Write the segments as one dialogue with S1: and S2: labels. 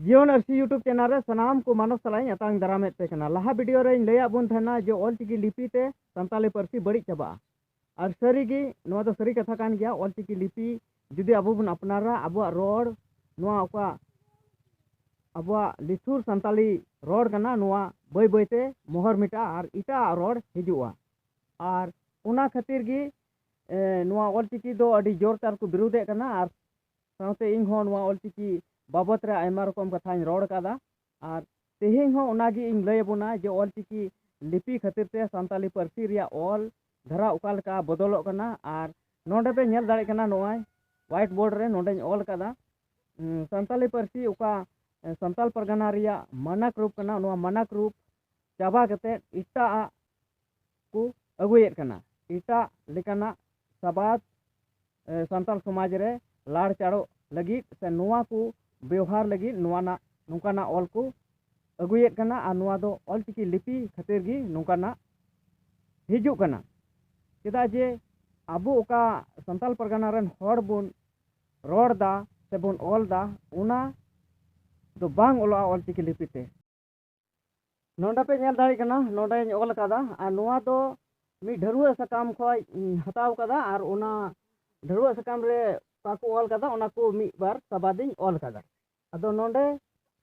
S1: ᱡᱤᱭᱚᱱ ᱟᱹᱨᱥᱤ YouTube channel ᱨᱮ ᱥᱟᱱᱟᱢ ᱠᱚ ᱢᱟᱱᱚᱥ ᱥᱟᱞᱟᱜ ᱤᱧ ᱟᱛᱟᱝ ᱫᱟᱨᱟᱢᱮᱫ ᱯᱮ ᱠᱟᱱᱟ ᱞᱟᱦᱟ ᱵᱷᱤᱰᱤᱭᱳ ᱨᱮᱧ ᱞᱟᱹᱭᱟᱫ ᱵᱚᱱ ᱛᱟᱦᱮᱱᱟ ᱡᱮ ᱚᱞᱪᱤᱠᱤ ᱞᱤᱯᱤ ᱛᱮ ᱥᱟᱱᱛᱟᱞᱤ ᱯᱟᱹᱨᱥᱤ ᱵᱟᱹᱲᱤᱡ ᱪᱟᱵᱟᱜᱼᱟ ᱟᱨ ᱥᱟᱹᱨᱤᱜᱮ ᱱᱚᱣᱟ ᱫᱚ ᱥᱟᱹᱨᱤ ᱠᱟᱛᱷᱟ ᱠᱟᱱ ᱜᱮᱭᱟ ᱚᱞᱪᱤᱠᱤ ᱞᱤᱯᱤ ᱡᱩᱫᱤ ᱟᱵᱚ ᱵᱚᱱ ᱟᱯᱱᱟᱨᱟ ᱟᱵᱚᱣᱟᱜ ᱨᱚᱲ ᱱᱚᱣᱟ ᱚᱠᱟ ᱟᱵᱚᱣᱟᱜ ᱞᱤᱴᱷᱩᱨ ᱥᱟᱱᱛᱟᱞᱤ ᱨᱚᱲ ᱠᱟᱱᱟ ᱱᱚᱣᱟ ᱵᱟᱹᱭ ᱵᱟᱹᱭᱛᱮ ᱢᱚᱦᱚᱨ ᱢᱮᱴᱟᱜᱼᱟ ᱟᱨ ᱮᱴᱟᱜ ᱨᱚᱲ ᱦᱤᱡᱩᱜᱼᱟ ᱟᱨ ᱚᱱᱟ ᱠᱷᱟᱹᱛᱤᱨ ᱜᱮ ᱱᱚᱣᱟ ᱚᱞᱪᱤᱠᱤ ᱫᱚ ᱟᱹᱰᱤ ᱡᱳᱨ ᱛᱟᱨ ᱠᱚ ᱵᱤᱨᱳᱫᱮᱫ ᱠᱟᱱᱟ ᱟᱨ ᱥᱟᱶᱛᱮ ᱤᱧ ᱦᱚᱸ ᱱᱚᱣᱟ ᱚᱞᱪᱤᱠᱤ ᱵᱟᱵᱚᱛ ᱨᱮ ᱟᱭᱢᱟ ᱨᱚᱠᱚᱢ ᱠᱟᱛᱷᱟᱧ ᱨᱚᱲ ᱠᱟᱫᱟ ᱟᱨ ᱛᱮᱦᱮᱧ ᱦᱚᱸ ᱚᱱᱟ ᱜᱮ ᱤᱧ ᱞᱟᱹᱭ ᱟᱵᱚᱱᱟ ᱡᱮ ᱚᱞᱪᱤᱠᱤ ᱞᱤᱯᱤ ᱠᱷᱟᱹᱛᱤᱨ ᱛᱮ ᱥᱟᱱᱛᱟᱞᱤ ᱯᱟᱹᱨᱥᱤ ᱨᱮᱭᱟᱜ ᱚᱞ ᱫᱷᱟᱨᱟ ᱚᱠᱟ ᱞᱮᱠᱟ ᱵᱚᱫᱚᱞᱚᱜ ᱠᱟᱱᱟ ᱟᱨ ᱱᱚᱰᱮ ᱯᱮ ᱧᱮᱞ ᱫᱟᱲᱮᱭᱟᱜ ᱠᱟᱱᱟ ᱱᱚᱜᱼᱚᱭ ᱦᱣᱟᱭᱤᱴ ᱵᱳᱨᱰ ᱨᱮ ᱱᱚᱰᱮᱧ ᱚᱞ ᱠᱟᱫᱟ ᱥᱟᱱᱛᱟᱞᱤ ᱯᱟᱹᱨᱥᱤ ᱚᱠᱟ ᱥᱟᱱᱛᱟᱞ ᱯᱟᱨᱜᱟᱱᱟ ᱨᱮᱭᱟᱜ ᱢᱟᱱᱟᱠ ᱨᱩᱯ ᱠᱟᱱᱟ ᱱᱚᱣᱟ ᱢᱟᱱᱟᱠ ᱨᱩᱯ ᱪᱟᱵᱟ ᱠᱟᱛᱮᱫ ᱮᱴᱟᱜ ᱟᱜ ᱠᱚ ᱟᱹᱜᱩᱭᱮᱫ ᱠᱟᱱᱟ ᱮᱴᱟᱜ ᱞᱮᱠᱟᱱᱟᱜ ᱥᱟᱵᱟᱫ ᱥᱟᱱᱛᱟᱲ ᱥᱚᱢᱟᱡᱽ ᱨᱮ ᱞᱟᱲ ᱪᱟᱲᱚᱜ ᱞᱟᱹᱜᱤᱫ ᱥᱮ ᱱᱚᱣᱟ ᱠᱚ ᱵᱮᱣᱦᱟᱨ ᱞᱟᱹᱜᱤᱫ ᱱᱚᱣᱟᱱᱟᱜ ᱱᱚᱝᱠᱟᱱᱟᱜ ᱚᱞ ᱠᱚ ᱟᱹᱜᱩᱭᱮᱫ ᱠᱟᱱᱟ ᱟᱨ ᱱᱚᱣᱟ ᱫᱚ ᱚᱞ ᱪᱤᱠᱤ ᱞᱤᱯᱤ ᱠᱷᱟᱹᱛᱤᱨ ᱜᱮ ᱱᱚᱝᱠᱟᱱᱟᱜ ᱦᱤᱡᱩᱜ ᱠᱟᱱᱟ ᱪᱮᱫᱟᱜ ᱡᱮ ᱟᱵᱚ ᱚᱠᱟ ᱥᱟᱱᱛᱟᱲ ᱯᱟᱨᱜᱟᱱᱟ ᱨᱮᱱ ᱦᱚᱲ ᱵᱚᱱ ᱨᱚᱲ ᱫᱟ ᱥᱮᱵᱚᱱ ᱚᱞ ᱫᱟ ᱚᱱᱟ ᱫᱚ ᱵᱟᱝ ᱚᱞᱚᱜᱼᱟ ᱚᱞ ᱪᱤᱠᱤ ᱞᱤᱯᱤ ᱛᱮ ᱱᱚᱰᱮ ᱯᱮ ᱧᱮᱞ ᱫᱟᱲᱮᱭᱟᱜ ᱠᱟᱱᱟ ᱱᱚᱰᱮᱧ ᱚᱞ ᱟᱠᱟᱫᱟ ᱟᱨ ᱱᱚᱣᱟ ᱫᱚ ᱢᱤᱫ ᱰᱷᱟᱹᱨᱣᱟᱹᱜ ᱥᱟᱠᱟᱢ ᱠᱷᱚᱱ ᱦᱟᱛᱟᱣ ᱟᱠᱟᱫᱟ ᱟᱨ ᱚᱱᱟ ᱰᱷᱟᱹᱨᱣᱟᱹᱜ ᱥᱟᱠᱟᱢ ᱨᱮ ᱚᱠᱟ ᱠᱚ ᱚᱞ ᱟᱠᱟᱫᱟ ᱚᱱᱟ ᱠᱚ ᱢᱤᱫ ᱵᱟᱨ ᱥᱟᱵᱟᱫᱤᱧ ᱚᱞ ᱟᱠᱟᱫᱟ ᱟᱫᱚ ᱱᱚᱰᱮ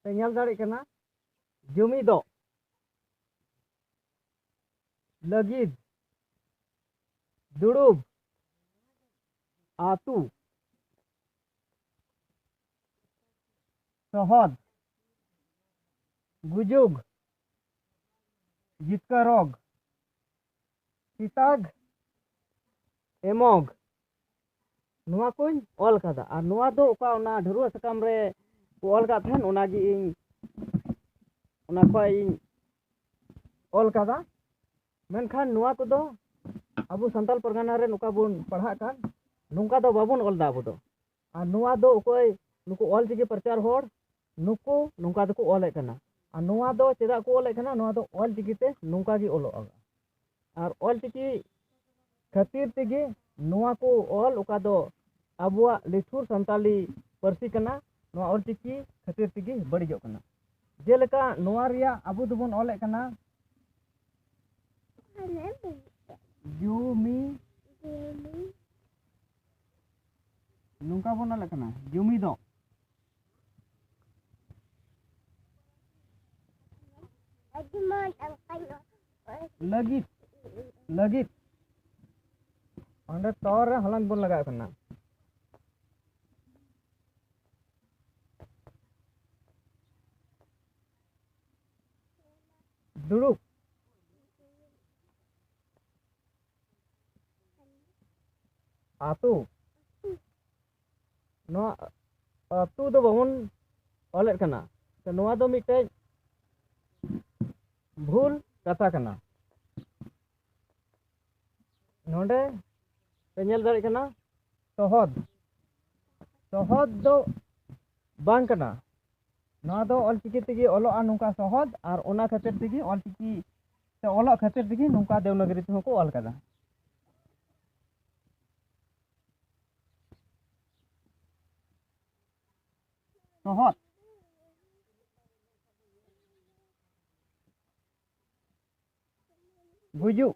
S1: ᱯᱮ ᱧᱮᱞ ᱫᱟᱲᱮᱭᱟᱜ ᱠᱟᱱᱟ ᱡᱩᱢᱤ ᱫᱚ ᱞᱟᱹᱜᱤᱫ ᱫᱩᱲᱩᱵ ᱟᱛᱩ ᱥᱚᱦᱚᱫ, ᱜᱩᱡᱩᱜᱽ, ᱡᱤᱛᱠᱟᱹᱨᱚᱜᱽ, ᱥᱤᱛᱟᱜᱽ, ᱮᱢᱚᱜᱽ ᱱᱚᱣᱟ ᱠᱚᱧ ᱚᱞ ᱠᱟᱫᱟ ᱟᱨ ᱱᱚᱣᱟ ᱫᱚ ᱚᱠᱟ ᱚᱱᱟ ᱰᱷᱟᱹᱨᱣᱟᱹᱜ ᱥᱟᱠᱟᱢ ᱨᱮ ᱠᱚ ᱚᱞ ᱠᱟᱜ ᱛᱟᱦᱮᱱ ᱚᱱᱟᱜᱮ ᱤᱧ ᱚᱱᱟ ᱠᱷᱚᱡ ᱤᱧ ᱚᱞ ᱠᱟᱫᱟ ᱢᱮᱱᱠᱷᱟᱱ ᱱᱚᱣᱟ ᱠᱚᱫᱚ ᱟᱵᱚ ᱥᱟᱱᱛᱟᱲ ᱯᱟᱨᱜᱟᱱᱟ ᱨᱮ ᱱᱚᱝᱠᱟ ᱵᱚᱱ ᱯᱟᱲᱦᱟᱜ ᱠᱟᱱ ᱱᱚᱝᱠᱟ ᱫᱚ ᱵᱟᱵᱚᱱ ᱚᱞᱫᱟ ᱟᱵᱚ ᱫᱚ ᱟᱨ ᱱᱚᱣᱟ ᱫᱚ ᱚᱠᱚᱭ ᱱᱩᱠᱩ ᱚᱞ ᱪᱤᱠᱤ ᱯᱨᱚᱪᱟᱨ ᱦᱚᱲ ᱱᱩᱠᱩ ᱱᱚᱝᱠᱟ ᱛᱮᱠᱚ ᱚᱞᱮᱫ ᱠᱟᱱᱟ ᱟᱨ ᱱᱚᱣᱟ ᱫᱚ ᱪᱮᱫᱟᱜ ᱠᱚ ᱚᱞᱮᱫ ᱠᱟᱱᱟ ᱱᱚᱣᱟ ᱫᱚ ᱚᱞ ᱪᱤᱠᱤ ᱛᱮ ᱱᱚᱝᱠᱟ ᱜᱮ ᱚᱞᱚᱜᱼᱟ ᱟᱨ ᱚᱞ ᱪᱤᱠᱤ ᱠᱷᱟᱹᱛᱤᱨ ᱛᱮᱜᱮ ᱱᱚᱣᱟ ᱠᱚ ᱚᱞ ᱚᱠᱟ ᱫᱚ ᱟᱵᱚᱣᱟᱜ ᱞᱤᱴᱷᱩᱨ ᱥᱟᱱᱛᱟᱞᱤ ᱯᱟᱹᱨᱥᱤ ᱠᱟᱱᱟ ᱱᱚᱣᱟ ᱚᱞ ᱪᱤᱠᱤ ᱠᱷᱟᱹᱛᱤᱨ ᱛᱮᱜᱮ ᱵᱟᱹᱲᱤᱡᱚᱜ ᱠᱟᱱᱟ ᱡᱮᱞᱮᱠᱟ ᱱᱚᱣᱟ ᱨᱮᱭᱟᱜ ᱟᱵᱚ ᱫᱚᱵᱚᱱ ᱚᱞᱮᱫ ᱠᱟᱱᱟ ᱡᱩᱢᱤ ᱱᱚᱝᱠᱟ ᱵᱚᱱ ᱚᱞᱮᱫ ᱠᱟᱱᱟ ᱡᱩᱢᱤ ᱫᱚ ᱞᱟᱹᱜᱤᱫ ᱞᱟᱹᱜᱤᱫ ᱚᱸᱰᱮ ᱛᱚ ᱨᱮ ᱦᱚᱞᱚᱝ ᱵᱚᱱ ᱞᱟᱜᱟᱣ ᱠᱟᱱᱟ ᱫᱩᱲᱩᱵ ᱟᱹᱛᱩ ᱱᱚᱣᱟ ᱟᱹᱛᱩ ᱫᱚ ᱵᱟᱵᱚᱱ ᱚᱞᱮᱫ ᱠᱟᱱᱟ ᱛᱚ ᱱᱚᱣᱟ ᱫᱚ ᱢᱤᱫᱴᱮᱡ ᱵᱷᱩᱞ ᱠᱟᱛᱷᱟ ᱠᱟᱱᱟ ᱱᱚᱰᱮ ᱯᱮ ᱧᱮᱞ ᱫᱟᱲᱮᱭᱟᱜ ᱠᱟᱱᱟ ᱥᱚᱦᱚᱫ ᱥᱚᱦᱚᱫ ᱫᱚ ᱵᱟᱝ ᱠᱟᱱᱟ ᱱᱚᱣᱟ ᱫᱚ ᱚᱞᱪᱤᱠᱤ ᱛᱮᱜᱮ ᱚᱞᱚᱜᱼᱟ ᱱᱚᱝᱠᱟ ᱥᱚᱦᱚᱫ ᱟᱨ ᱚᱱᱟ ᱠᱷᱟᱹᱛᱤᱨ ᱛᱮᱜᱮ ᱚᱞᱪᱤᱠᱤ ᱚᱞᱚᱜ ᱠᱷᱟᱹᱛᱤᱨ ᱛᱮᱜᱮ ᱱᱚᱝᱠᱟ ᱫᱮᱣᱱᱟᱜᱨᱤ ᱛᱮᱦᱚᱸ ᱠᱚ ᱚᱞ ᱠᱟᱫᱟ ᱥᱚᱦᱚᱫ ᱜᱩᱡᱩᱜ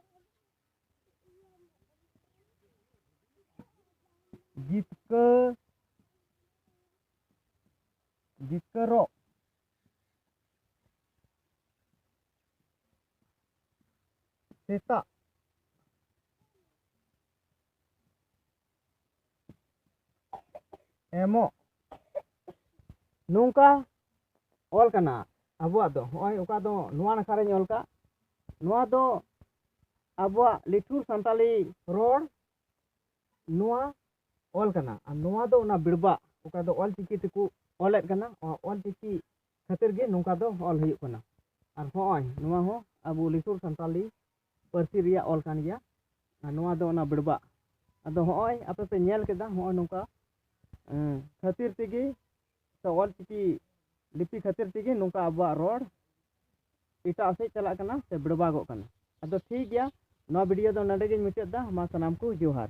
S1: ᱡᱤᱛᱠᱟᱹ ᱡᱤᱛᱠᱟᱹᱨᱚᱜ ᱥᱮᱛᱟᱜ ᱮᱢᱚᱜ ᱱᱚᱝᱠᱟ ᱚᱞ ᱠᱟᱱᱟ ᱟᱵᱚᱣᱟᱜ ᱫᱚ ᱦᱚᱸᱜᱼᱚᱭ ᱚᱠᱟ ᱫᱚ ᱱᱚᱣᱟ ᱱᱟᱠᱷᱟ ᱨᱮᱧ ᱚᱞ ᱠᱟᱜ ᱱᱚᱣᱟ ᱫᱚ ᱟᱵᱚᱣᱟᱜ ᱞᱤᱴᱷᱩᱨ ᱥᱟᱱᱛᱟᱞᱤ ᱨᱚᱲ ᱱᱚᱣᱟ ᱚᱞ ᱠᱟᱱᱟ ᱟᱨ ᱱᱚᱣᱟ ᱫᱚ ᱚᱱᱟ ᱵᱤᱲᱵᱟᱜ ᱚᱠᱟ ᱫᱚ ᱚᱞ ᱪᱤᱠᱤ ᱛᱮᱠᱚ ᱚᱞᱮᱫ ᱠᱟᱱᱟ ᱚᱞ ᱪᱤᱠᱤ ᱠᱷᱟᱹᱛᱤᱨ ᱜᱮ ᱱᱚᱝᱠᱟ ᱫᱚ ᱚᱞ ᱦᱩᱭᱩᱜ ᱠᱟᱱᱟ ᱟᱨ ᱦᱚᱸᱜᱼᱚᱭ ᱱᱚᱣᱟ ᱦᱚᱸ ᱟᱵᱚ ᱞᱤᱥᱩᱨ ᱥᱟᱱᱛᱟᱞᱤ ᱯᱟᱹᱨᱥᱤ ᱨᱮᱭᱟᱜ ᱚᱞ ᱠᱟᱱ ᱜᱮᱭᱟ ᱟᱨ ᱱᱚᱣᱟ ᱫᱚ ᱚᱱᱟ ᱵᱮᱲᱵᱟᱜ ᱟᱫᱚ ᱦᱚᱸᱜᱼᱚᱭ ᱟᱯᱮ ᱯᱮ ᱧᱮᱞ ᱠᱮᱫᱟ ᱦᱚᱸᱜᱼᱚᱭ ᱱᱚᱝᱠᱟ ᱠᱷᱟᱹᱛᱤᱨ ᱛᱮᱜᱮ ᱥᱮ ᱚᱞ ᱪᱤᱠᱤ ᱞᱤᱯᱤ ᱠᱷᱟᱹᱛᱤᱨ ᱛᱮᱜᱮ ᱱᱚᱝᱠᱟ ᱟᱵᱚᱣᱟᱜ ᱨᱚᱲ ᱮᱴᱟᱜ ᱥᱮᱫ ᱪᱟᱞᱟᱜ ᱠᱟᱱᱟ ᱥᱮ ᱵᱮᱲᱵᱟᱜᱚᱜ ᱠᱟᱱᱟ ᱟᱫᱚ ᱴᱷᱤᱠ ᱜᱮᱭᱟ ᱱᱚᱣᱟ ᱵᱷᱤᱰᱤᱭᱳ ᱫᱚ ᱱᱚᱰᱮ ᱜᱤᱧ ᱢᱩᱪᱟᱹᱫ ᱮᱫᱟ ᱢᱟ ᱥᱟᱱᱟᱢ ᱠᱚ ᱡᱚᱦᱟᱨ